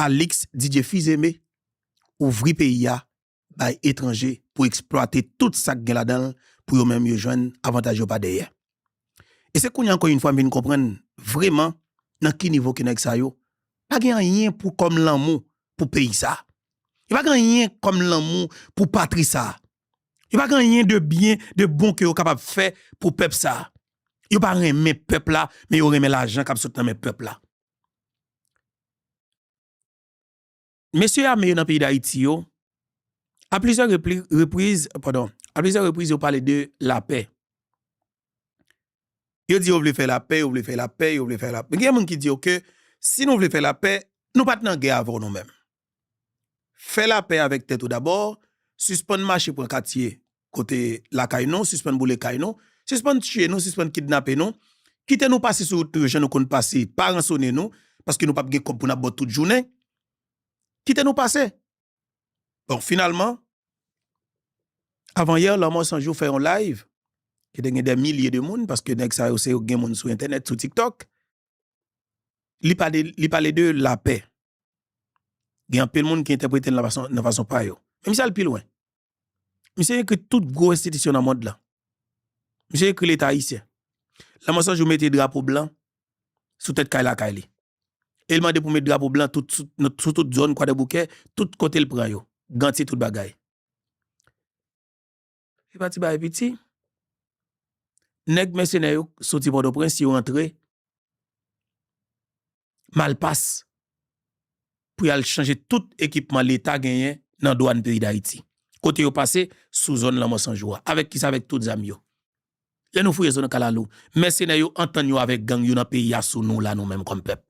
Alix Didier Fils-Aimé ouvri peyi a bay etranje pou eksplwate tout sa k gen ladan l pou yo menm yo jwenn avantaj yo pa dèyè. E se kounye a ankò yn fwa m vin konprann vreman nan ki nivo ke nèg sa yo pa gen anyen pou kòm lanmou pou peyi sa. Yo pa gen anyen kòm lanmou pou patri sa. Yo pa gen anyen de byen, de bon ke yo kapab fè pou pèp sa. Yo pa renmen pèp la men yo renmen lajan k ap sot nan men pèp la. Mesye ame yo nan peyi Dayiti yo, a plizyè repriz, padon, a plizyè repriz yo pale de lapè. Yo di yo vle fè lapè, yo vle fè lapè, yo vle fè lapè. Gen moun ki di yo ke si nou vle fè lapè, nou pa t nan gè avè w nou menm. Fè lapè avèk tèt ou dabò, sispann mache pran katye kote lakay nou, sispann boule kay nou, sispann tiye nou, sispann kidnape nou, kite nou pase sou wout nou yo jan nou konn pase, pa ransone nou, paske nou pap gen kòb pou n ap ba w tout jounen, kite nou pase. Bon, finalman, avanyè, Lanmò San Jou fè yon live, ki te gen dè milye de moun, paske nèg sa yo se yo ki gen moun sou entènèt, sou TikTok, li pale de lapè. Gen anpil moun ki entèprete l nan fason pa yo. Men misye al pi lwen. Misye ekri tout gwo enstitisyon nan mond lan. Misye ekri leta ayisyen. Lan mòso jou mete drapo blan sou tèt kay lakay li. E l mande pou met drapo blan sou tout zòn kwadèboukè, tout kote l pran yo. Gantye tout bagay. Se pa ti bagay piti. Nèg mèsenè yo soti Pòtoprens, yo antre Malpas pou y al chanje tout ekipman Leta genyen nan dwàn peyi Dayiti. Kote yo pase? Sou zòn Lanmò 100 jou a. Avèk ki sa? Avèk tout zam yo. Lè nou fouye zòn Kalalou, mèsenè yo antann yo avèk gang yo nan peyi a sou nou la nou menm kòm pèp.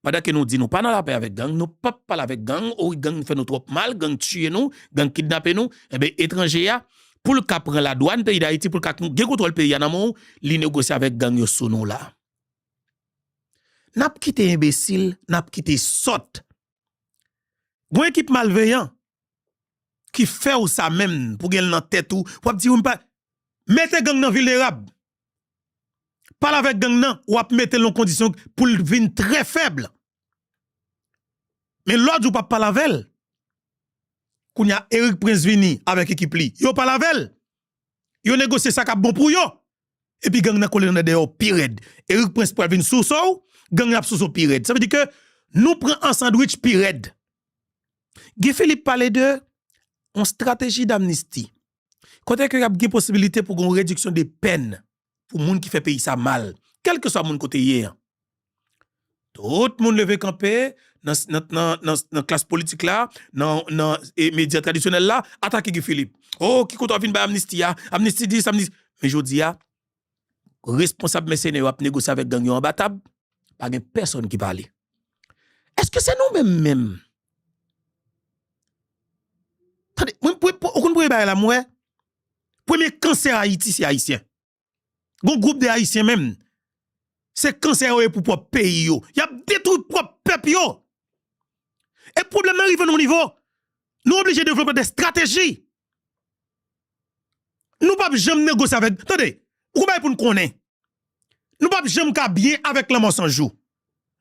Pandan ke nou di nou pa nan lapè avèk gang, nou pap pale avèk gang, o wi gang fè nou twòp mal, gang tiye nou, gang kidnape nou, enben etranje ya pou l ka pran ladwann peyi dayiti, pou l ka gen kontwòl peyi ya nan men w, li negosye avèk gang yo sou nou la. Nap kite enbesil, nap kite sòt. Gon ekip malveyan ki fè w sa menm pou gen l nan tèt ou, wap di ou m pa, mete gang nan vilnerab, Pale avèk gang nan, w ap mete l nan kondisyon pou l vin trè fèb. Men lòt jou w p ap pale avè l. Kounye a, Erik Prince vini avèk ekip li. Yo pale avè l. Yo negosye sa k ap bon pou yo. Epi gang nan kole nan dèdè yo pi rèd. Erik Prince pral vin souse w, gang nan ap souse w pi rèd. Sa vle di ke nou pran an sandwich pi rèd. Guy Philippe pale de yon strateji damnisti. Kote ke ap gen posibilite pou gon rediksyon de pèn pou moun ki fè peyi sa mal, kelke swa moun kote ye an. Tout moun leve kanpe nan klas politik la, nan medya tradisyonèl la, atake Guy Philippe. Oh, ki kote wap vin bay amnisti a? Amnisti dis, amnisti. Men jodi a, responsab mèsenè yo ap negosye avèk gang yo anba tab, pa gen pèsonn ki pale. Eske se nou menm menm? Tande, ou konn premye bagay la m wè? Premye kansè Ayiti se Ayisyen. Gon gwoup de Ayisyen menm, se kansè yo ye pou pwòp peyi yo. Y ap detwi pwòp pèp yo. E pwoblèm nan rive nan yon nivo, nou oblije devlope dè estrateji Nou pap janm negosye avèk, tande, gwo bagay pou n konnen, nou pap janm ka byen avèk lanmò san jou.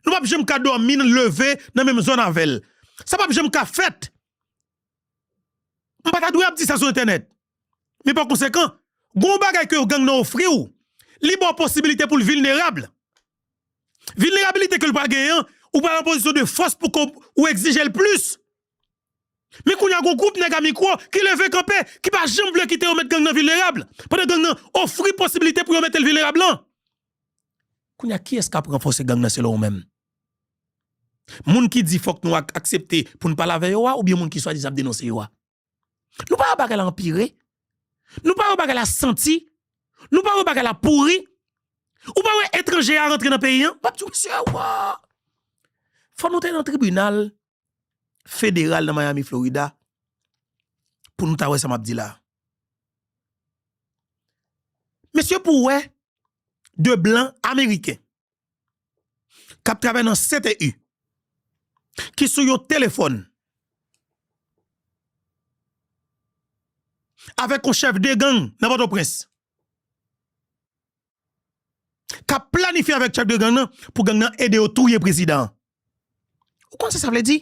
Nou pap janm ka dòmi n leve nan menm zòn avè l. Sa pap janm ka fèt. M pa ta dwe ap di sa sou entènèt. Men pa konsekan, gwo yon bagay ke yon gang nan ofri w, li ba w posibilite pou l vilnerab. Vilnerabilite ke l pral genyen an, ou pral an pozisyon de fòs pou ke w egzije l plis. Men kounya gon gwoup nèg a mikwo ki leve kanpe, ki pa janm vle kite yo met gang nan vilnerab, pandan gang nan ofri posibilite pou yo mete l vilnerab lan. Kounya kiyès k ap ranfòse gang nan selon ou menm? Moun ki di fòk nou aksepte pou n pale avè yo a oubyen moun ki swadizan ap denonse yo a? Nou pa wè bagay la anpire? Nou pa wè bagay la santi? Nou pa wè bagay la pouri? Ou pa wè etranje a rantre nan peyi an? M ap di w mesye, woo! Fò nou te nan tribinal federal nan Miami Florida pou nou ta wè sa map di la mesye pou wè de blan ameriken kap travè nan sete u ki sou yon telefon avèk yon chèf de gang nan poto prens kap planifye avèk chèf de gang nan pou gang nan ede yo touye prezidan an ou konn sa sa vle di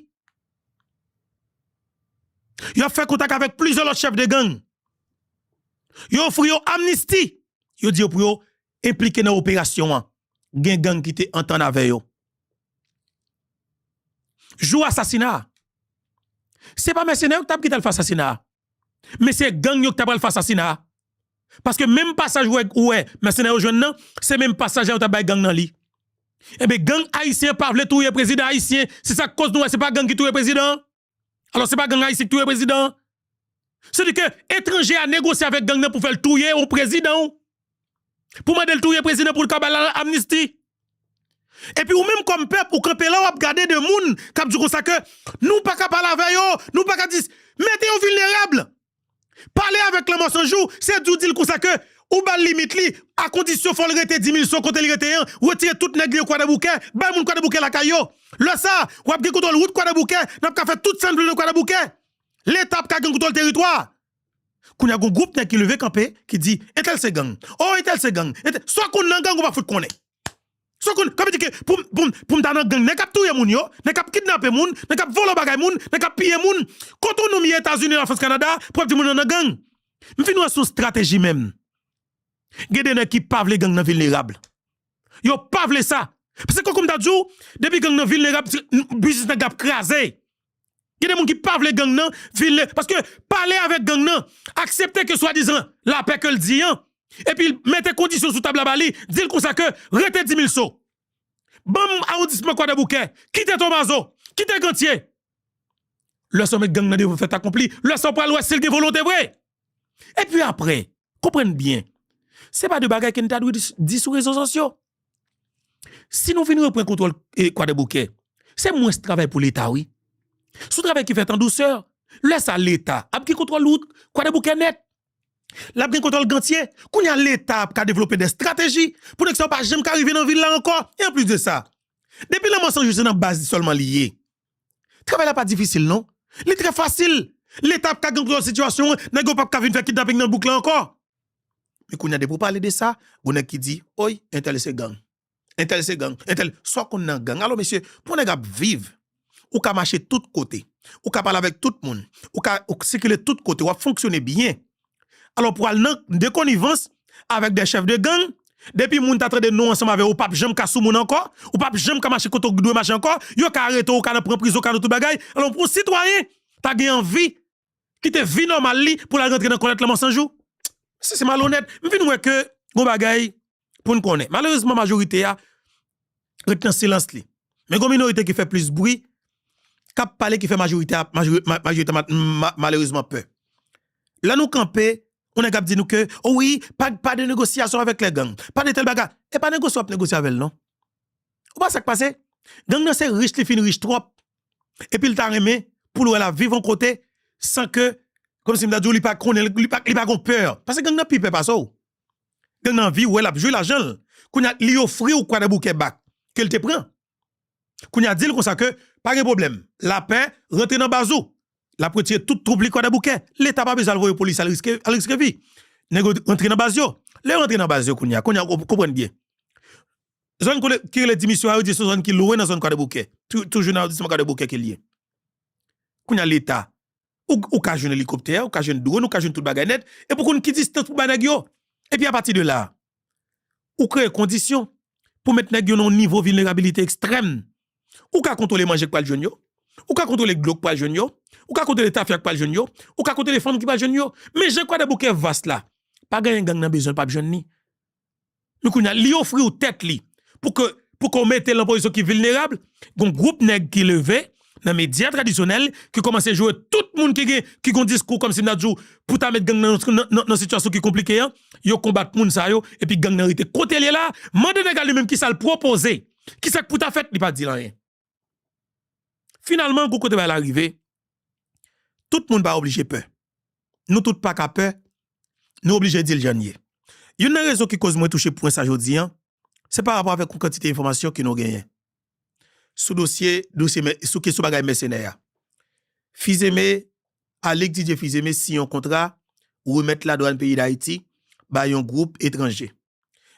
yo ap fè kontak avèk plizyè lòt chèf de gang yo ofri yo amnisti yo di yo pou yo enplike nan operasyon an gen gang ki te antann avè yo jou asasina a se pa mèsenè yo ki tap gin tal fè asasina a. Men se gang yo ki ta pral fè asasina a. Paske menm pasaj ou wè ou wè mèsenè yo jwenn nan, se menm pasaj la yo ta bay gang nan li. Enben gang ayisyen pa vle touye prezidan ayisyen, se sa k koz nou wè se pa gang ki touye prezidan an. Alò se pa gang ayisyen ki touye prezidan an. Se di ke etranje a negosye avèk gang nan pou fè l touye yon prezidan w. Pou mande l touye prezidan pou l ka ba l amnisti. Epi ou menm kòm pèp ou kanpe la w ap gade de moun k ap di w konsa ke nou pa ka pale avè yo, nou pa ka di. Mete yo vilnerab! Pale avèk lanmò san jou, se di w di l konsa ke ou ba l limit li, a kondisyon fò l rete Dimilson kote li rete an, retire tout nèg li yo Kwadèboukè, bay moun Kwadèboukè lakay yo. Lè sa a, w ap gen kontwòl wout Kwadèboukè, n ap ka fè tout sa n vle nan Kwadèboukè. Leta ap ka gen kontwòl teritwa a. Kounya gon gwoup nèg ki leve kanpe ki di entèl se gang oh entèl se gang entèl sa w konn nan gang ou pa fout konnen sa w konn sa vle di ke pou m pou m ta nan gang nèg kap touye moun yo nèg kap kidnape moun nèg kap vòlò bagay moun nèg kap piye moun kot ou noum ye etazini lafrans kanada pou ap di moun yo nan gang m fin wè son strateji menm gen de nèg ki pa vle gang nan vilnerab yo pa vle sa paske kòk m ta di w depi gang nan vilnerab biznis nèg la ap kraze Gen de moun ki pa vle gang nan vin le paske pale avèk gang nan aksepte ke swadizan lapè ke l di an epi mete kondisyon sou tab la ba li di l konsa ke rete dimilso ban m awondisman kwadèboukè kite tonbazo kite gantye lè sa w mèt gang nan devan fèt akonpli lè sa w pral wè si l gen volonte vre. E pi apre, konprann byen, se pa de bagay ke n ta dwe di sou rezo sosyo. Si nou vin repran kontwòl Kwadèboukè, se mwens travay pou Leta wi. Se yon travay ki fèt an dousè. Lè sa Leta ap gen kontwòl wout Kwadèboukè nèt. L ap gen kontwòl Gantye. Kounye a Leta ap ka devlope dè estrateji pou nèg sa yo pa janm ka rive nan vil la ankò. E anplis de sa, depi lanmò Sanjou se nan baz li sèlman li ye. Travay la pa difisil non. Li trè fasil. Leta ap ka kontrole sitiyasyon an, nèg yo pap ka vin fè kidnaping nan bouk la ankò. Men kounye a depi w pale de sa, gon nèg ki di, oy, entèl se gang. Entèl se gang. Entèl, sa w konn nan gang? Alò mesye, pou yon nèg ap viv, ou ka mache tout kote, ou ka pale avèk tout moun, ou ka sikile tout kote, w ap fonksyone byen, Alò pou al nan de konivans avèk de chèf de gang, depi moun ta tande non ansanm avè w ou pap janm ka sou moun ankò, ou pap janm ka mache kote w dwe mache ankò, yo ka arete w, ou ka nan pran prizon, ou ka nan tout bagay, alò pou yon sitwayen ta gen anvi kite vi nòmal li pou l al rantre nan kòlèt la Mansanjou? Mesye se malonèt, m vin wè ke gon bagay. pou n konnen. Malerezman majorite a ret nan silans li. Men gon minorite ki fè plis bri, k ap pale ki fè majorite a malerezman pè. Lè nou kanpe, yon nèg ap di nou ke o wi pa de negosyasyon avèk lè gang, pa de tèl baga. E pa negosye w ap negosye avè l non. Ou pa wè sa k pase? Gang nan se rich li fin rich twòp epi l ta renmen pou l wè l ap viv yon kote san ke kòm si m ta di w li pa konnen, li pa gon pè. Pase gang nan pi pè pase w. Gen nan viw wè lap jwe lajanl kounya li ofriw kwadèboukè bak kel te pran kounya dil konsa ke pa gen pwoblèm lapè rantre nan baz ou lap retire tout twoup li kwadèboukè leta pa bezwen al voye polis al riske al riske vi nèg yo rantre nan baz yo lè yo rantre nan baz yo kounya kounya ou konprann byen zòn kote ki rele dimisyon a yo di son zòn ki lwen nan zòn kwadèboukè toujou nan awondisman kwadèboukè kel ye kounya leta Ou ka jwenn elikoptè, ou ka jwenn dwòn, ou ka jwenn tout bagay nèt, epi ou konn ki distans pou bay nèg yo. Epi apati de la, ou kreye kondisyon pou met nèg yo nan yon nivo vilnerabilite ekstrèm. Ou ka kontwole manje k pral jwenn yo, ou ka kontwole dlo k pral jwenn yo, ou ka kontwole tafya k pral jwenn yo, ou ka kontwole fanm ki pral jwenn yo. Men jan kwadèboukè vas la, pa genyen gang nan bezwen l pa p jwenn li. Men kounye a, li ofri ou tèt li pou ke pou ke w mete l nan pozisyon ki vilnerab, gon gwoup nèg ki leve nan medya tradisyonèl ki kòmanse joure tout moun ki gen ki gon diskou kòmsi m ta di w pou ta met gang nan nan sitiyasyon ki konplike an, yo konbat moun sa yo epi gang nan rete kote l ye la a. Mande nèg la li menm ki sa l pwopoze, ki sa k pou ta fèt, li pa di l anyen. Finalman, gou kote bagay la rive, tout moun pa oblije pè. Nou tout pa ka pè, nou oblije di l jan l ye. Youn nan rezon ki koz mwen touche pwen sa jodi an, se pa rapò avèk yon kantite enfòmasyon ke nou genyen sou dosye, sou kesyon bagay mèsenè a. Fizeme, Alix Didier Fizeme siyen yon kontra remèt ladwann peyi Dayiti bay yon gwoup etranje.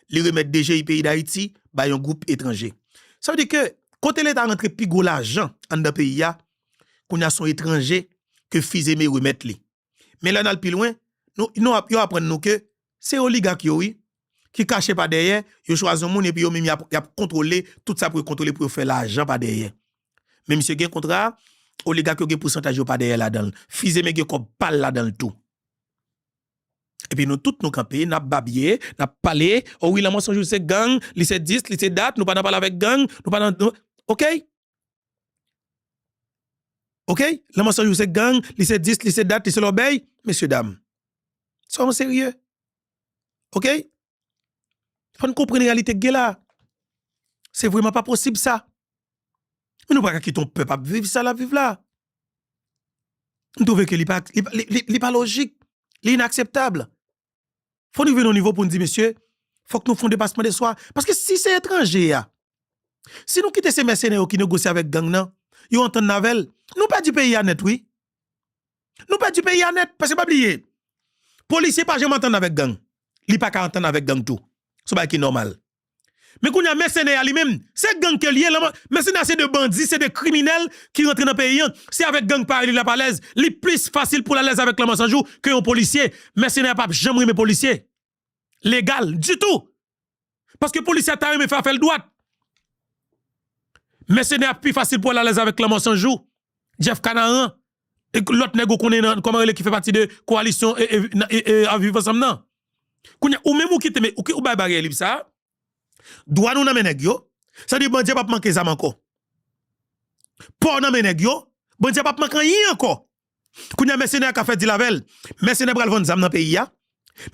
li remèt DGI peyi Dayiti bay yon gwoup etranje. Sa vle di ke kote leta rantre pi gwo lajan anndan peyi a, kounye a se yon etranje ke Fils-Aimé remèt li. Men lè n al pi lwen, nou ap, yo aprann nou ke se oligak yo wi, ki kache pa dèyè, yo chwazi yon moun epi yo menm y ap, y ap kontwole tout sa pou yo kontwole pou yo fè lajan pa dèyè. Men misye gen kontra, oligak yo gen pousantaj yo pa dèyè ladan l. Fils-Aimé gen kòb pa l ladan l tou. Epi nou tout nou kanpe nap babye, nap pale, o wi lanmò sonjou se gang, li se dis, li se dat, nou pa nan pale avèk gang, nou pa nan ok. Ok, lanmò sonjou se gang, li se dis, li se dat, li se lòbèy, mesye dam, sònw serye ok. Fò n konprann reyalite k gen la a. Se vrèman pa posib sa. Men nou pa ka kite yon pèp ap viv sa l ap viv la a. M twouve ke li pa li pa lojik, li inakseptab. Fò n rive nan yon nivo pou n di mesye, fòk nou fè yon depasman de swa. Paske si se etranje a, si nou kite se mèsenè yo ki negosye avèk gang nan, yo antann avè l, nou pèdi peyi a nèt wi. Nou pèdi peyi a nèt paske pa bliye polisye pa janm antann avèk gang li pa ka antann avèk gang tou son bagay ki nòmal men kounye a mèsenè a li menm se gang ke li ye lan mèsenè a se de bandi se de kriminèl ki rantre nan peyi an se avèk gang parèy li l ap alèz li plis fasil pou l alèz avèk lanmò 100 jou ke yon polisye mèsenè a p ap janm renmen polisye. legal ditou. Paske polisye a ta renmen fè afè l dwat. Mèsenè a pi fasil pou al alèz avèk lanmò san jou, Jeff Canaran, lòt nèg ou konnen nan kòman rele ki fè pati de kowalisyon ap viv ansanm nan. Kounya ou menm ou kite men ou bay baryè lib sa a, dwa nou nan men nèg yo, sa di bandi a pap manke zam ankò. Pò w nan men nèg yo, bandi a pap manke anyen ankò. Kounye a mèsenè a ka fè dil avè l. Mèsenè pral vann zam nan peyi a.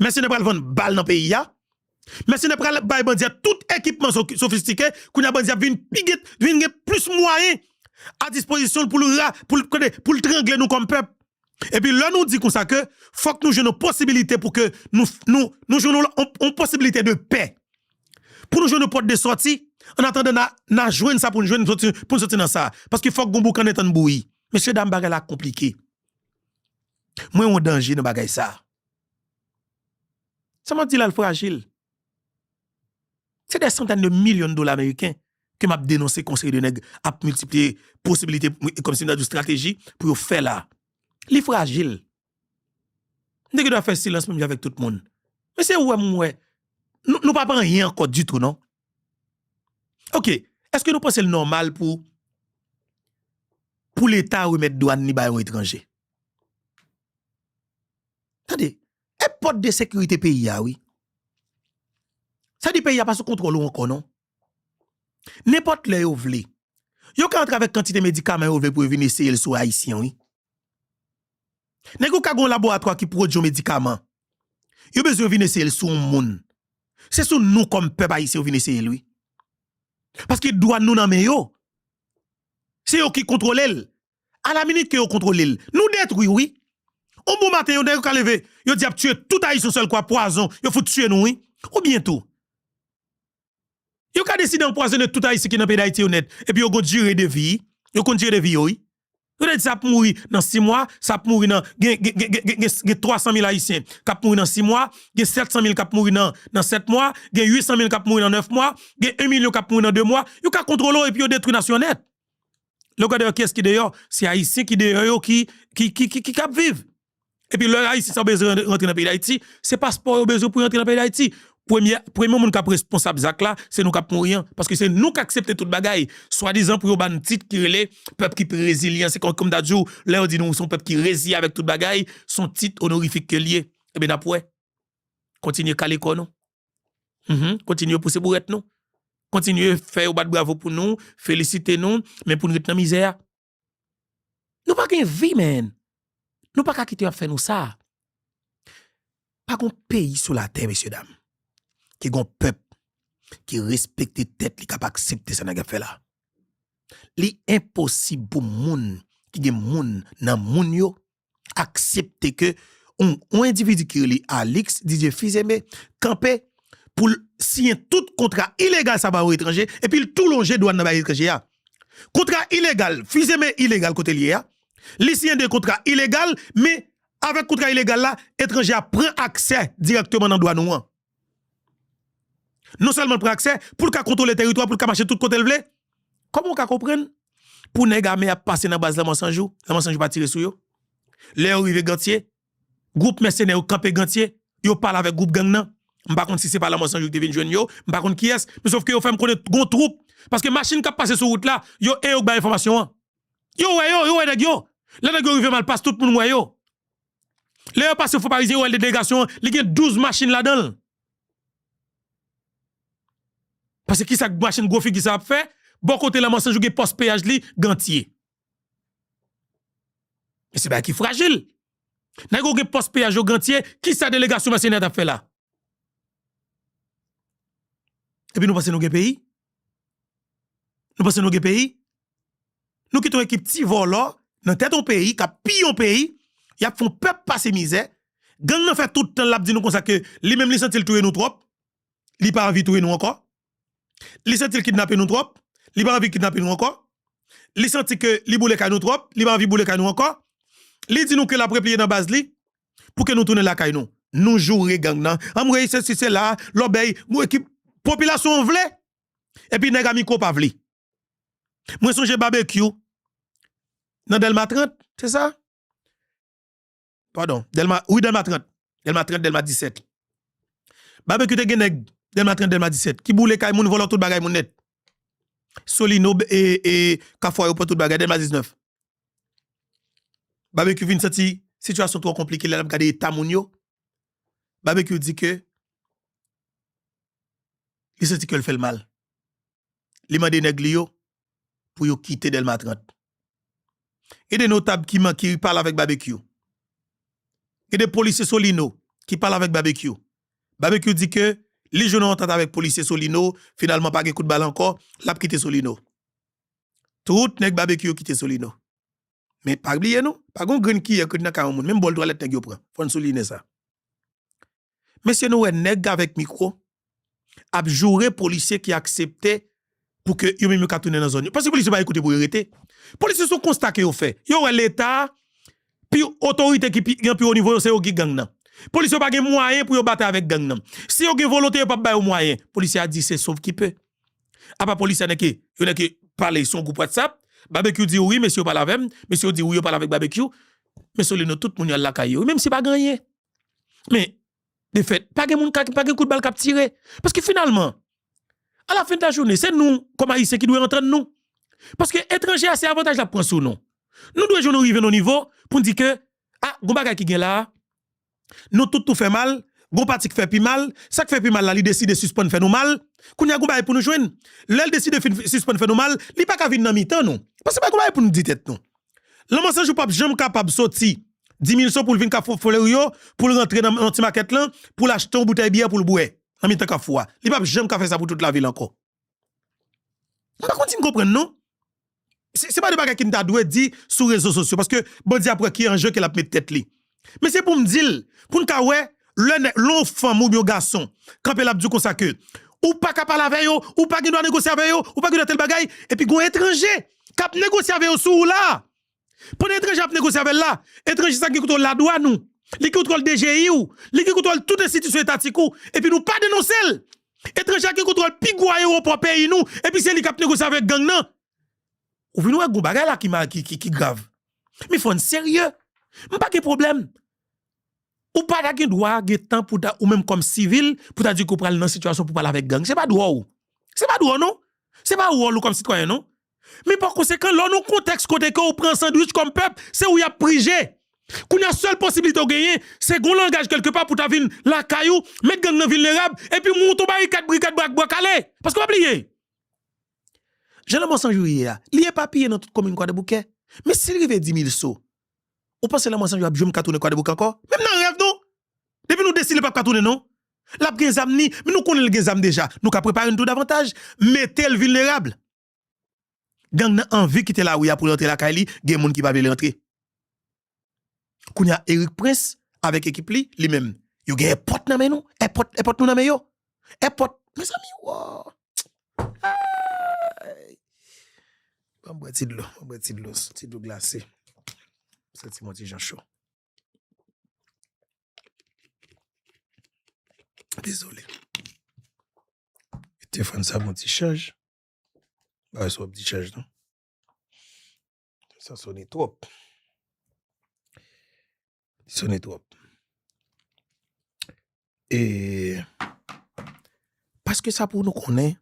Mèsenè pral vann bal nan peyi a. Mèsenè pral bay bandi a tout ekipman sofistike. Kounye a bandi a vin pi gen, vin gen plis mwayen a dispozisyon l pou l ra, pou l, konnen, pou l trangle nou kòm pèp. Epi lè nou di konsa ke fòk nou jwenn yon posibilite pou ke nou, nou, nou jwenn yon, yon posibilite de pè. Pou nou jwenn yon pòt de sòti. Annatandan na, na jwenn sa pou nou jwenn pou nou sòti nan sa. Paske fòk gen yon boukannen tann bouyi. Mesye dam bagay la konplike. Mwen wè yon danje nan bagay sa. Sa map di la l frajil. Se dè santèn de milyon dola ameriken ke map denonse kon seri de nèg ap miltipliye posibilite, kom si mta di w strateji pou yo fè la. Li frajil. Mwen te gen dwa fè silans menm jan avèk tout moun. Men se ou wè m wè, nou pa pou anyen ankò ditou non. Ok, èske nou panse l nòmal pou pou leta remèt dwàn li ba yon etranje? Tande, e pòt de sekirite peyi a wi. Sa di peyi a pa sou kontwòl ou ankò non. Nenpòt lè yo vle, yo ka antre avèk kantite medikaman yo vle pou yo vin eseye l sou Ayisyen wi. Nèg yo ka gen yon laboratwa ki pwodui yon medikaman, yo bezwen vin eseye l sou yon moun, se sou nou kòm pèp ayisyen yo vin eseye l wi. Paske dwàn nou nan men yo, se yo ki kontwole l, alaminit ke yo kontwole l, nou detwi l wi. Yon bon maten yon nèg yo ka leve, yo di y ap tiye tout Ayisyen yon sèl kou ak pwazon, yo fout tiye nou wi. Oubyen tou, yo ka deside anpwazone tout Ayisyen ki nan peyi Dayiti yo nèt, epi yo gen yon dire de vi, yo konn dire de vi yo wi. Yo te di sa ap mouri nan 6 mwa, sa ap mouri nan, gen 300 mil ayisyen k ap mouri nan 6 mwa, gen 700 mil k ap mouri nan 7 mwa, gen 800 mil k ap mouri nan 9 mwa, gen 1 milyon k ap mouri nan 2 mwa, yo ka kontwole w epi yo detwi nasyon nèt. Lè w gade yo kiyès ki deyò, se ayisyen ki deyò yo ki k ap viv. Epi lè Ayisyen sa yo bezwen rantre nan peyi Dayiti, se paspò yo bezwen pou yo rantre nan peyi Dayiti. Premye, premye moun kap responsab zak la, se nou kap mouri an. Paske se nou k aksepte tout bagay. Swadizan pou yo ba n tit ki rele pèp ki pi rezilyan. Se kon, kòm m ta di w, lè yo di nou se yon pèp ki reziye avèk tout bagay, se yon tit onorifik ke l ye. Ebyen n ap wè. Kontinye kale kò nou. Mph. Kontinye pouse bourèt nou. Kontinye fè yo bat bravo pou nou, felisite nou, men pou n ret nan mizè a. Nou pa gen vi menn. Nou pa ka kite yo ap fè nou sa. Pa gen yon peyi sou latè mesye dam ki gen yon pèp ki respekte tèt li, ki ap aksepte sa nèg ap fè la. Li enposib pou moun ki gen moun nan moun yo aksepte ke yon endividi ki rele Alix Didier Fils-Aimé kanpe pou l siyen tout kontra ilegal sa ba yon etranje epi l tou lonje dwàn nan bay etranje ya. Kontra ilegal, Fils-Aimé ilegal kote l ye ya, li siyen de kontra ilegal men avèk kontra ilegal la etranje ya pran aksè dirèkteman nan dwàn ou an. Non sèlman l pran aksè, pou l ka kontwole teritwa, pou l ka mache tout kote l vle. Kòman ou ka konprann pou nèg ame ap pase nan baz la Mansanjou, la Mansanjou pa tire sou yo? Lè yo rive Gantye, gwoup mèsenè yo kanpe Gantye, yo pale avèk gwoup gang nan. M pa konn si se pa la Mansanjou ki te vin jwenn yo, m pa konn kiyès, men sofke yo fè m konnen gon twoup, paske machin k ap pase sou wout la, yo e yo k bay enfòmasyon an. Yo wè yo, yo wè nèg yo. Lè nèg yo rive Malpas, tout moun wè yo. Lè yo pase fo parizyen yo wè delegasyon an li gen 12 machin ladan l. Pase ki sa machin gwo figi sa ap fè bò kote la Mansanjou gen pòs peyaj li gantye. Se bagay ki frajil. Nèg yo gen pòs peyaj yo gantye ki sa delegasyon mèsenè t ap fè la. Epi nou panse nou gen peyi? Nou panse nou gen peyi? Nou kite yon ekip ti vòlò nan tèt yon peyi k ap piye yon peyi, y ap fè yon pèp pase mizè. Gang nan fè tout tan l ap di nou konsa ke li menm li santi l touye nou twòp, li pa anvi touye nou ankò. Li santi l kidnape nou twòp, li pa anvi kidnape nou ankò. Li santi ke li boule kay nou twòp, li pa anvi boule kay nou ankò. Li di nou ke l ap repliye nan baz li, Pou ke nou tounen lakay nou. Nou joure gang nan. Anmweyy sesi sela, lòbèy. Mwen ki popilasyon an vle. Epi nèg a mikwo pa vle. Mwen sonje babekyou nan Dèlma 30, se sa? Padon, Dèlma, wi Dèlma 30. Dèlma 30, Dèlma 17. Babekyou te gen nèg Dèlma 30, Dèlma 17 ki boule kay moun, vòlò tout bagay moun nèt. Solino e Kafou a yo pran tout bagay, Dèlma 19. Babekyou vin santi sitiyasyon twò konplike lè l ap gade eta moun yo. Babekyou di ke li santi kè l fè l mal. Li mande nèg li yo pou yo kite Dèlma 30. Gen de notab ki man ki pale avèk Babekyou. Gen de polisye Solino ki pale avèk Babekyou. Babekyou di ke li jwenn yon antant avèk polisye Solino, finalman pa gen kout bal ankò, l ap kite Solino. Tout nèg babekyou yo kite solino men pa bliye non pa gon grenn kiyè k ret nan kay yon moun menm bòl twalèt nèg yo pran fòn souline sa mesye nou wè nèg avèk mikwo ap joure polisye ki aksepte pou ke yo menm yo ka tounen nan zòn yo paske polisye pa gen kote pou yo rete polisye son konsta ke yo fè yo wè leta pi otorite ki pi gen pi wo nivo yo se yo ki gang nan polisye yo pa gen mwayen pou yo batay avèk gang nan si yo gen volonte yo pap ba yo mwayen polisye a di se sovkipe Apa polis sa nèke yo nèke pale son group whatsapp Babekyou diw wi mesye yo pale avèm mesye yo diw wi yo pale avèk Babekyou men Solino tout moun yo al lakay yo wi menm si pa gen anyen men de fèt pa gen moun ka pa gen kout bal kap tire paske finalman a la fen de la jounen se nou kòm ayisyen ki dwe entrann nou paske etranje a se avantaj lap pran sou nou nou dwe jwenn nou rive nan yon nivo poun di ke a gon bagay ki gen la Nou tout nou fè mal, gon pati k fè pi mal, sak fè pi mal la li deside sispann fè nou mal, kounya gon bagay pou nou jwenn, lèl deside fin sispann fè nou mal, li paka vin nan mitan nou, paske pa gon bagay pou nou di tèt nou. Lanmò san jou pap janm kapab soti Dimilson poul vin kafou Flèri yo, poul rantre nan nan ti makèt lan, poul achte yon boutèy byè poul bwè nan mitan kafou a, li pap janm ka fè sa pou tout lavil ankò. Mwen pa konn si n konprann non. Se pa de bagay ke m ta dwe di sou rezo sosyo, paske bandi ap wè ki anje ke l ap mete tèt li. Men se pou m di l, pou n ka wè, lè nèg, lè yon fanm oubyen yon gason kanpe l ap di w konsa ke, ou pa ka pale avè yo, ou pa gen dwa negosye avè yo, ou pa gen dwa tèl bagay, epi gen yon etranje k ap negosye avè yo sou ou la a. Pandan etranje ap negosye avè l la, etranje sa gen kontwòl ladwann ou, li gen kontwòl DGI ou, li gen kontwòl tout enstitisyon etatik ou, epi nou pa denonse l! Etranje a gen kontwòl pi gwo ayewopò peyi nou, epi se li k ap negosye avèk gang nan! Ou vin wè gen yon bagay la ki grav. Men fò n serye. M pa gen pwoblèm. Ou pa ta gen dwa gen tan pou ta, ou menm kòm sivil, pou ta di ke w pral nan sitiyasyon pou w pale avèk gang. Se pa dwa w. Se pa dwa w non. Se pa wòl ou kòm sitwayen non. Men pa konsekan, lè w nan yon kontèks kote ke w pran sandwich kòm pèp, se ou y ap prije. Kounye a, sèl posiblite w genyen, se gon langaj kèlke pa pou ta vin lakay ou, met gang nan vilnerab, epi mouton barikad, brikad, brak, bwa kale. Paske pa bliye, jan lanmò san jou ye a, li epapiye nan tout komin Kwadèboukè. Men si l rive Dimilso, ou panse lanmò san jou ap janm ka tounen Kwadèboukè ankò? Menm nan rèv non! Depi nou deside l pap ka tounen non. L ap gen zam li, men nou konnen l gen zam deja. Nou ka prepare n tou davantaj, mete l vilnerab. Gang nan anvi kite lari a pou l rantre lakay li, gen moun ki pa vle l rantre. Kounye a Eric Prince avèk ekip li, li menm, yo gen èpòt nan men nou, èpòt, èpòt nou nan men yo. Èpòt, mezanmi wo! Eeyy! Banm bwè ti dlo, banm bwè ti dlo, ti dlo glase. Santi m on ti jan cho. Dezole. Te fòn sa bon ti chaj. Ba yon sop ti chaj nan. Sa sone twop. Sone twop. E paske sa pou nou konnen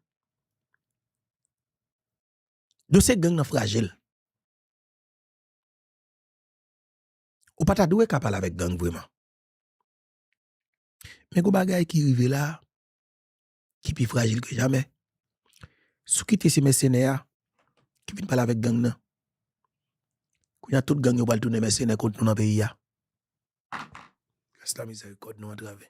dosye gang nan frajil. Ou pa ta dwe ka pale avèk gang vreman. Men gon bagay ki rive la, ki pi frajil ke jamè. Sou ki te se mèsenè a, ki vin pale avèk gang nan. Kou ya tout gang yo pral tounen mèsenè kont nou nan peyi a. Gras la mizè, kòd nou antrave.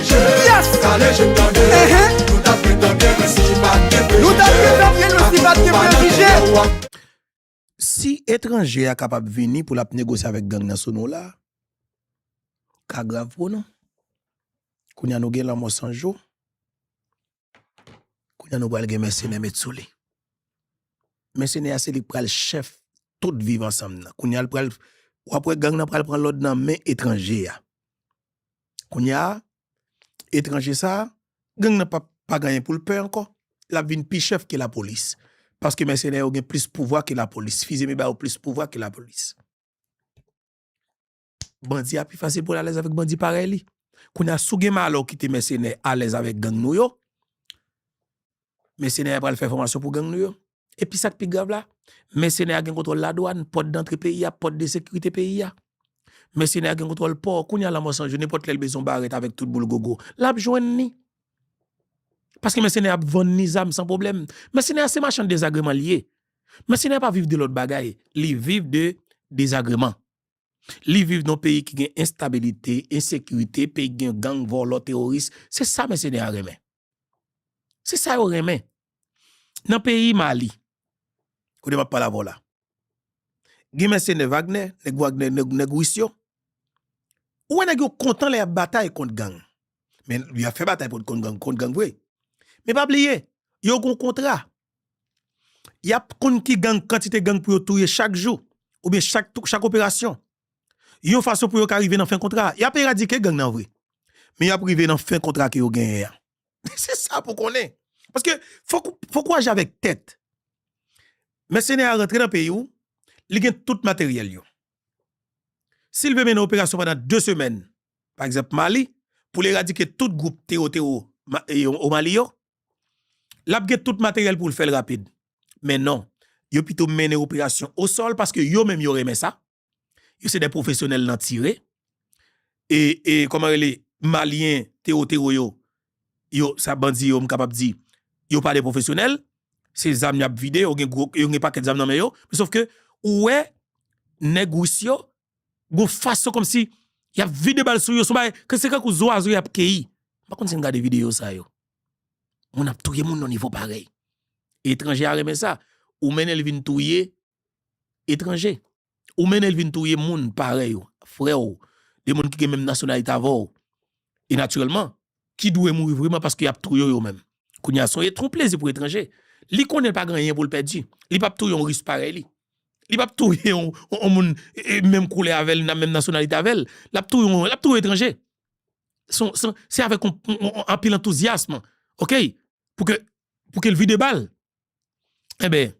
Si etranje a kapab vini pou lap negosye avèk gang nan sou nou la, ka grav pou nou. Kounya nou gen lanmò san jou. Kounye a nou pral gen mèsenè met sou li. Mèsenè a se li k pral chèf tout viv ansanm nan. Kounye a l pral, w ap wè gang nan pral pran lòd nan men etranje a. Kounye a, etranje sa a, gang nan p ap pa gen anyen pou l pè ankò. L ap vin pi chèf ke lapolis. Paske mèsenè yo gen plis pouvwa ke lapolis. Fizeme ba yo plis pouvwa ke lapolis. Bandi a pi fasil pou l alèz avèk bandi parèy li. Kounye a, si w gen malè w kite mèsenè alèz avèk gang nou yo, mèsenè a pral fè fòmasyon pou gang nou yo. Epi sa k pi grav la, mèsenè a gen kontwòl ladwàn, pòt dantre peyi a, pòt de sekirite peyi a. Mèsenè a gen kontwòl pò. Kounye a, Lanmò 100 jou, nenpòt lè l bezwen yon barèt avèk tout boul gogo, l ap jwenn ni. Paske mèsenè a ap vann ni zam san pwoblèm. Mèsenè a se machann dezagreman l ye. Mèsenè a pa viv de lòt bagay, li viv de dezagreman. Li viv nan peyi ki gen enstabilite, ensekirite, peyi ki gen gang, vòlò, teworis. Se sa mèsenè a renmen. Se sa yo renmen. Nan peyi Mali, kote map pale avè w la, gen mèsenè Wagner, nèg Wagner, nèg Ris yo. Ou wè nèg yo kontan lè yap batay kont gang. Men yap fè batay kont gang vre. Men pa bliye, yo gon kontra. Yap konn ki gang kantite gang pou yo touye chak jou ou byen chak operasyon yon fason pou yo ka rive nan fen kontra a yap eradike gang nan vre men yap rive nan fen kontra ke yo genyen an se sa pou konnen paske fòk ou aji avèk tèt mèsenè a rantre nan peyi ou li gen tout materyèl yo sil vle mennen operasyon pandan 2 semèn pa egzanp mali poul eradike tout gwoup tewo tewo o mali yo L ap gen tout materyèl pou l fè l rapid. Men non, yo pito mennen operasyon osòl paske yo menm yo renmen sa. Yo se de pwofesyonèl nan tire. E, e, kòman rele, Malyen, Tewotero yo, yo, sa bandi yo m kapab di, yo pa de pwofesyonèl. Se zam y ap vide, yo gen gwo, yo gen pakèt zam nan men yo. Sofke, ou wè, nèg Ris yo, Gon fason kòmsi y ap vide bal sou yo, son bagay ke se tankou zwazo y ap keyi. M pa konn si n gade videyo sa yo. Moun ap touye moun nan nivo parèy. Etranje a renmen sa. Ou mennen l vin touye etranje. Ou mennen l vin touye moun parèy ou, frè ou, de moun ki gen menm nasyonalite avè w. E natirèlman, ki dwe mouri vreman paske y ap touye yo menm. Kounye a sonje twou plezi pou etranje. Li konnen l pa gen anyen pou l pèdi. Li pap touye yon ris parèy li. Li pap touye yon moun menm koulè avè l nan menm nasyonalite avè l. L ap touye yon, l ap touye etranje. Se avèk yon anpil antouzyasm ok pou ke pou ke l vide bal. Enben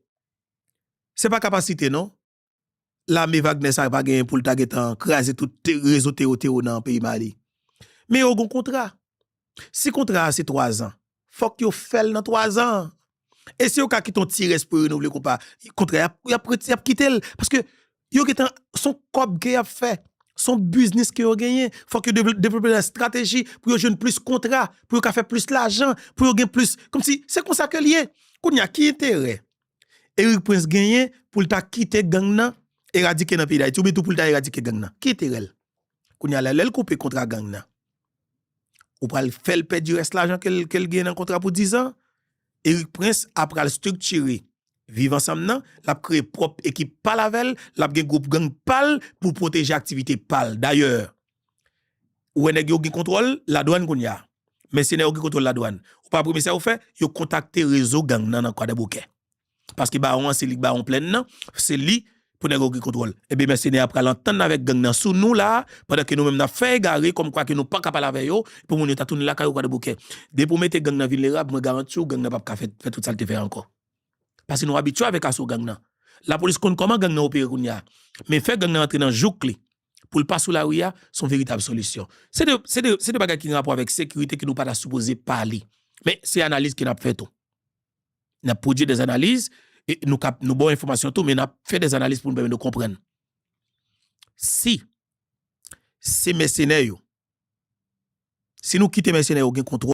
se pa kapasite non. lame Wagner sa pa genyen poul ta gentan kraze tout rezo tero tero nan peyi Mali. Men yo gon kontra. Si kontra a se 3 zan, fòk yo fèl nan 3 zan an. E si yo ka kite yon ti rès pou yo renouvle kou pa, kontra a yap rete yap kitel. Paske yo gentan son kòb ke yap fè, son biznis ke yo genyen, fòk yo devlope lè strateji pou yo jwenn plis kontra, pou yo ka fè plis lajan, pou yo gen plis, kòmsi se konsa ke liye. Kounya ki enterè? Erik Prince genyen pou l ta kite gang nan eradike nan peyi Dayiti oubyen tou pou l ta eradike gang nan? Ki enterè l? Kounye a la, lè l koupe kontra gang nan, ou pral fè l pèdi rès lajan ke l genyen nan kontra pou dizan? Erik Prince ap pral striktire Viv Ansanm nan, l ap kreye pwòp ekip pa l avè l, l ap gen gwoup gang pa l pou l pwoteje aktivite pa l. Dayè, Ou wè nèg yo gen kontwòl ladwann kounye a. Mèsenè yo gen kontwòl ladwann. Ou pa premye sa yo fè, yo kontakte rezo gang nan nan Kwadèboukè. Paske bawon an se li k bawon plèn nan, se li pou nèg yo gen kontwòl. Enben mèsenè a pral antann avèk gang nan sou nou la a, pandan ke nou menm n ap fè egare kòmkwa ke nou pa ka pale avè yo, pou moun yo ta tounen lakay yo Kwadèboukè. Depi ou mete gang nan vilnerab, mwen garanti ou gang nan p ap ka fè tout sa l te fè ankò. Paske nou abitye avèk aso gang nan. Lapolis konn kòman gang nan opere kounye a. Men fè gang nan antre nan jouk li. pou l pa sou lari a, s on veritab solisyon. Se de, se de, se de bagay ki gen rapò avèk sekirite ke nou pa ta sipoze pale. Men, se analiz ke n ap fè tou. N ap pwodui dè analiz, e nou kab, nou ba w enfòmasyon tou, men n ap fè dè analiz pou nou pèmèt nou konprann. Si, se mèsenè yo, si nou kite mèsenè yo gen kontwòl,